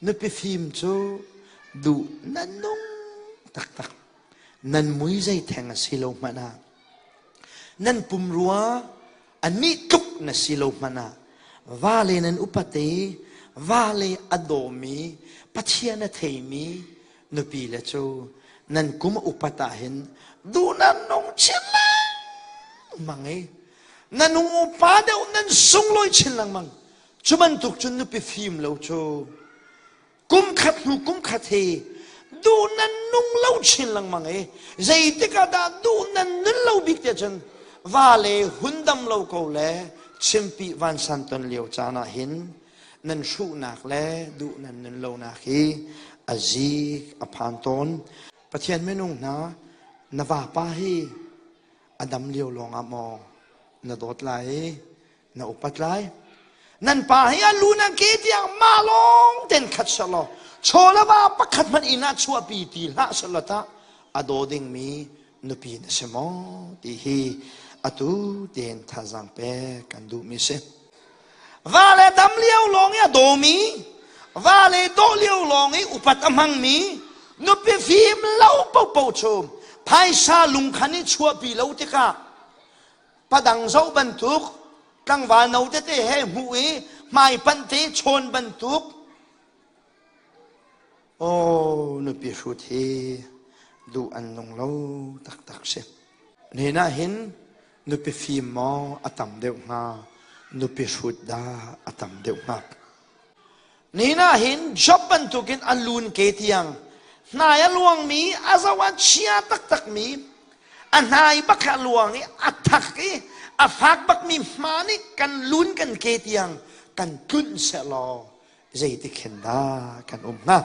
Nupi fim cu duh nan nung taktak. Nan mui zei theng a si lo hmanh ah. Nan pum rua a ni tluk na si lo hmanh ah. Vale nan upate, vale a dawmi, Pathian a theimi nupi le cu nan kum a upat ahhin duh nan nung chin lengmang i na nu upa deuh nan sunglawi chin lengmang. Cu bantuk cun nupi fim lo cu kum khat hnu kum khat hi duh nan nung lo chin lengmang i zeitik ah dah duh nan nun lo bik te cun va le hundam lo ko le chimpi vansan ton lio caan ah hin nan hruhnak le duh nan nun lonak hi a zik a phan tawn pathian minung hna na vapa hi a dam lio lawngah maw na dawt lai na upat lai nan pa hi a lu nan ke tiang ma lawng ten khat sel law chawlava pakhat hmanh inn ah chuahpi ti hlah sel law tah a daw dingmi nupi na si maw ti hi atu ten thazang pek kan duhmi si va le dam lio lawng i a dawmi va le daw lio lawng i upat a hmangmi nupi fim lo popo chum phaisa lungkhan i chuahpi lo tikah padang zo bantuk tlangval no tete he hmuh i hmaipanh te chawn bantuk oh nupi hrut hi duh an nung lo taktak si nena hin nupi fim maw a tam deuh hnga nupi hrut dah a tam deuh hnga Nin ah hin Job bantukin a lun ke tiang hnai a luangmi a zoh a chia taktakmi a hnai bak a luang i a thak i a fak bakmi hma nih kan lun kan ke tiang kan tlunh sehlaw zeitik hen dah kan um hnga?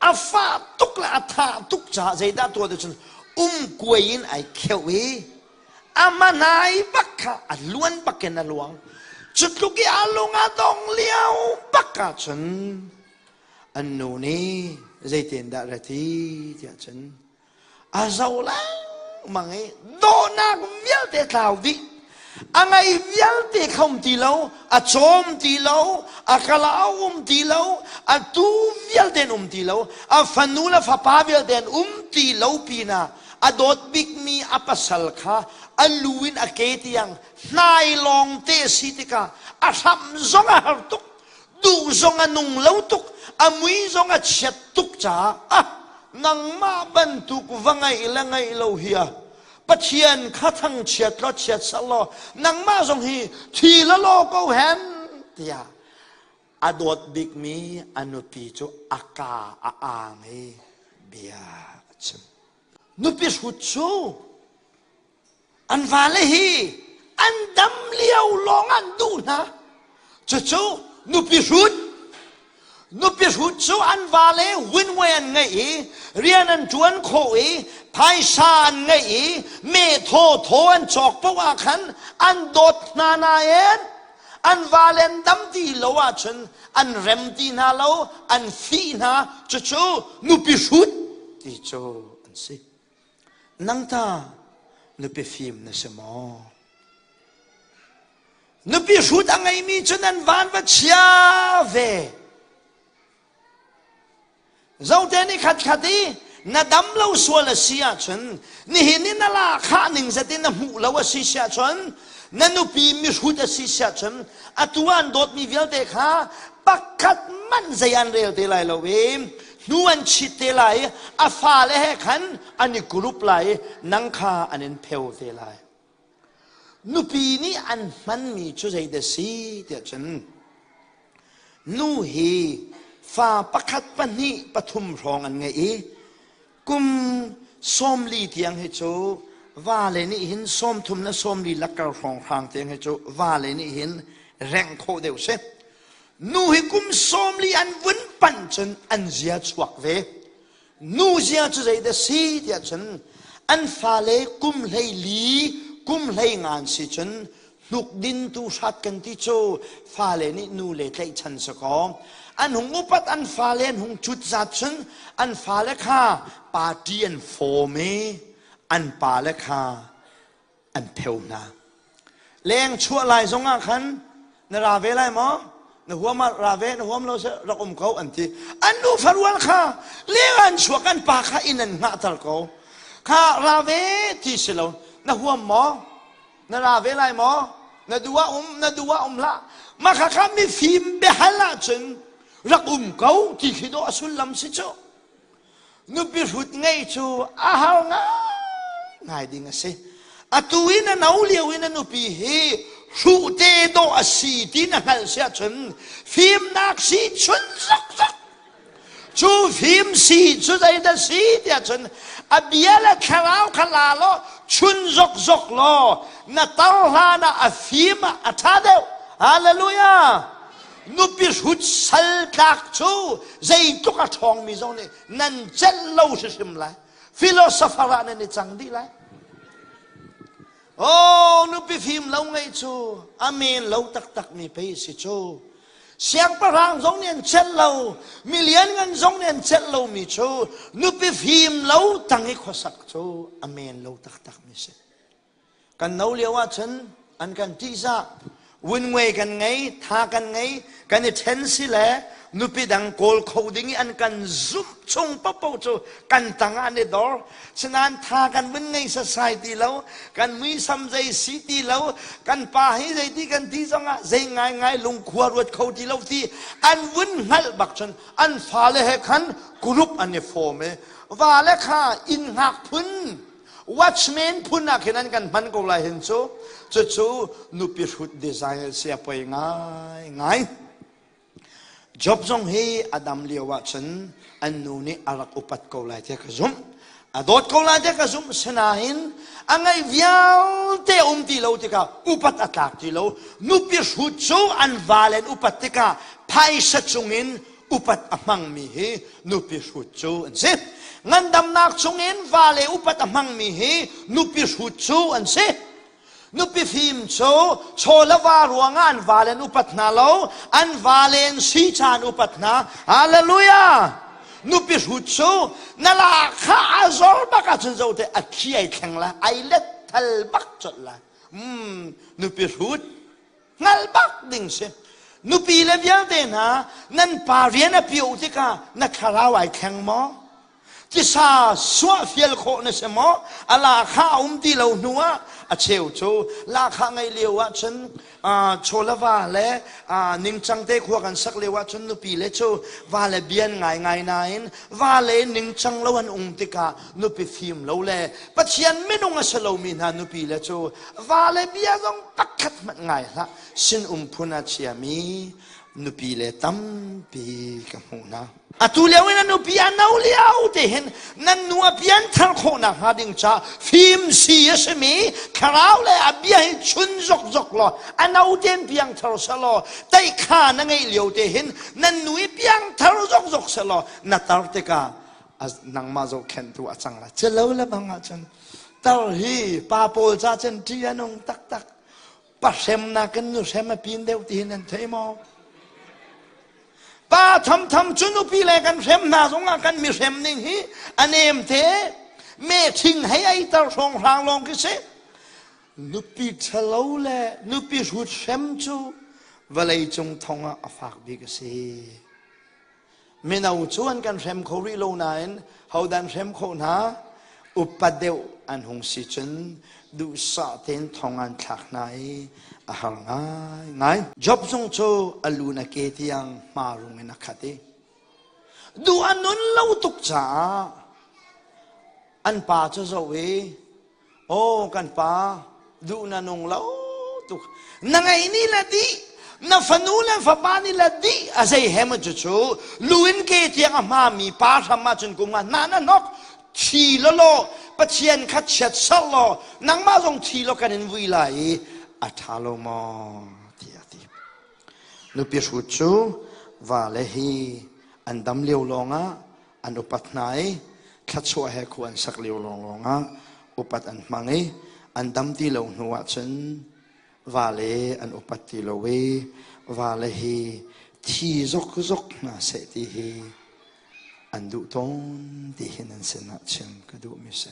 a fah tuk le a tha tuk caah zeidah tuah tu cun um kuai in ai kheuh i ama nai bak kha a luan bak in a luang cu tluk i a lung a dong lio bak ah cun an nu nih zeitin dah ra ti tiah cun a zo lengmang i dawhnak vialte tlau dih a ngei vialte khom ti lo a cawm ti lo a kala a um ti lo a tu vialte um ti lo a fanu le fapa vialte an um ti lo pinah a dawt bikmi a pasal kha a lu in a ke tiang hnai lawng te si tikah a hram zong a har tuk duh zong a nung lo tuk a mui zong a chiat tuk caah a nangmah bantuk va ngeih le ngeih lo hi a pathian kha thangchiat law chiat sal law nangmah zong hi thi la law ko hen tiah a dawt bikmi a nupi cu a ka a aang i bia a chim nupi hrut cu An vale hi an dam lio lawng an duh hna. Cucu nupi hrut. Nupi hrut cu an vale winway an ngeih i rian an ṭuan khawh i phaisa an ngeih i methaw thaw an cawk poh ah khan an dawt hna nain an vale an dam ti lo ahcun an rem ti hna lo an fih hna cucu nupi hrut ti cu an si. Nangta nupi fim na si maw? Nupi hrut a ngeimi cu nan van va chia ve. Zote nih khatkhat i na dam lo sual a si ahcun nihin i na lahkhah ning zetin na hmuh lo a si si ahcun na nupi mihrut a si si ahcun atu an dawtmi vialte kha pakhat manh zei an rel te lai lo i nu an chit te lai i a fale he khan an i gurup lai i nang kha an in pheo te lai nupi nih an hmanmi cu zeidah si tiah cun nu hi fa pakhat pahnih pathum hrawng an ngei i kum sawmli tiang hi cu vale nih hin sawmthum le sawmli lakkar hrawng hrang tiang hi cu vale nih hin rengh khawh deuh si Nu hi kum sawmli an vun pan cun an zia chuak ve. Nu zia cu zeidah si tiah cun an fale kum hlei li kum hlei ngan si cun hnuk din tu hrat kan ti cu fale nih nu le tlaih chan sa kaw an hung upat an fale an hung cut zat cun an fale kha party an fawm i an pale kha an pheo hna leng chuah lai zong ah khan na ra ve lai maw na huam ah ra ve na huam lo seh rak um ko an ti an nu farual kha leng an chuak an pa kha in an ngahter ko kha ra ve ti si lo na huam maw na ra ve lai maw na dua um na dua um la mah kha kha mi fim behal ah cun rak um ko ti khi do a sullam si cu Nupi hrut ngei cu a har ngai ding a si. Atu i na no lio i na nupi hi hruhte dawh a si ti na hngalh si ahcun fimnak si chun zakzak cu fim si cu zeidah si ti ahcun a bia le thlarau kha la law chun zokzok law na tar hlan ah a fim ah a ṭha deuh hallelujah nupi hrut sal tlak cu zeitluk a ṭhawngmi zong nih nan celh lo hrimhrim lai philosopher ah nan i cang dih lai oh nupi fim lo ngeih cu a men lo taktakmi pei si cu siangpahrang zong nih an celh lo mi lianngan zong nih an celh lomi cu nupi fim lo tang i khuasak cu a men lo taktakmi si kan no lio ahcun an kan ṭihzah wunngwe kan ngei tha kan ngei kan i ṭhen si le nupi dang kawl kho ding i an kan zumh chung popo cu kan tang ah an i dor sinain tha kan vun ngei sasai ti lo kan muisam zei si ti lo kan pa hi zeiti kan ti zongah zei ngaingai lungkhua ruat kho ti lo ti an vun hngalh bak cun an fale he khan group an i fom i vale kha inn hngak phun watchman phun ah khin an kan hman ko lai hin cu cucu nupi hrut design si a poi ngai ngai job zong hi a dam lio ah cun an nu nih a rak upat ko lai tiah ka zumh a dawt ko lai tiah ka zumh sinain a ngaih vialte um ti lo tikah upat a tlak ti lo nupi hrut cu an valen upat tikah phaisa cung in upat a hmangmi hi nupi hrut cu an si ngandamnak chungin vale upat a hmangmi hi nupi hrut cu an si nupi fim cu chawlava ruangah an vale an upat hna lo an vale an si caan upat hna hallelujah nupi hrut cu na la kha a zor bak ahcun zote a khi ai thleng la ai let thal bak cawlh la mm, nupi hrut hngal bak ding si nupi le vialte hna nan pa rian a pio tikah na thlarau ai thleng maw tisa suah fial khawh na si maw a lakha a um ti lo hnu ah a cheu cu lakha ngeih lio ah cun cholava le ningcang te khua kan sak lio ah cun nupi le cu va le bian ngaingai nain va le ningcang lo an um tikah nupi fim lo le pathian minung a si lomi hna nupi le cu vale bia zong pakhat hmanh ngai hlah sinum phun a chiami nupi le tampi ka hmuh hna atu lio in a nupi a no lio te hin nan nupi an thar khawhnak hnga ding ca fim si a simi thlarau le a bia hi chun zok zok law a no ten piang thar sa law teikha na ngeih lio te hin nan nui piang thar zok zok sa law na tar tikah nangmah zohkhentu a cang la celo le bang ah cun Tar hi pa pawl ca cun ṭih a nung taktak. Pahremnak in nuhrem a pin deuh tihin an thei maw? Pa thamtham cu nupi le kan hrem hna zongah kan mihrem ning hi a nem te. Me ṭhing hei eitar hrawng hrang lawng khi si. Nupi ṭhalo le nupi hrut hrem cu vawleicung thongah a fak bik a si. Mino cu an kan hrem kho rih lo nain hodan hrem khawh hna upat deuh an hung si cun duhsah tein thong an thlak hna i a har ngaingai. Job zung cu a lu na ke tiang marum in a khat i duh an nun lo tuk caah an pa cu zoh i Aw kan pa, duh na nung lo tuk. Na ngei ni la dih, na fanu le fapa ni la dih, a zei he maw cu cu luin ke tiang a hmami pa hram ahcun kum nga na na nok thi lo law pathian kha chiat sar law nangmah zong thi law kan in vui lai i a ṭha lo maw tiah a ti nupi hrut cu vale hi an dam lio lawngah an upat hna i thluachuah he khua an sak lio lawnglawng ah upat an hmang i an dam ti lo hnu ah cun vale an upat ti lo i vale hi thi zokzok hna seh ti hi an duh tawn ti hin an sinah chim ka duh mi si.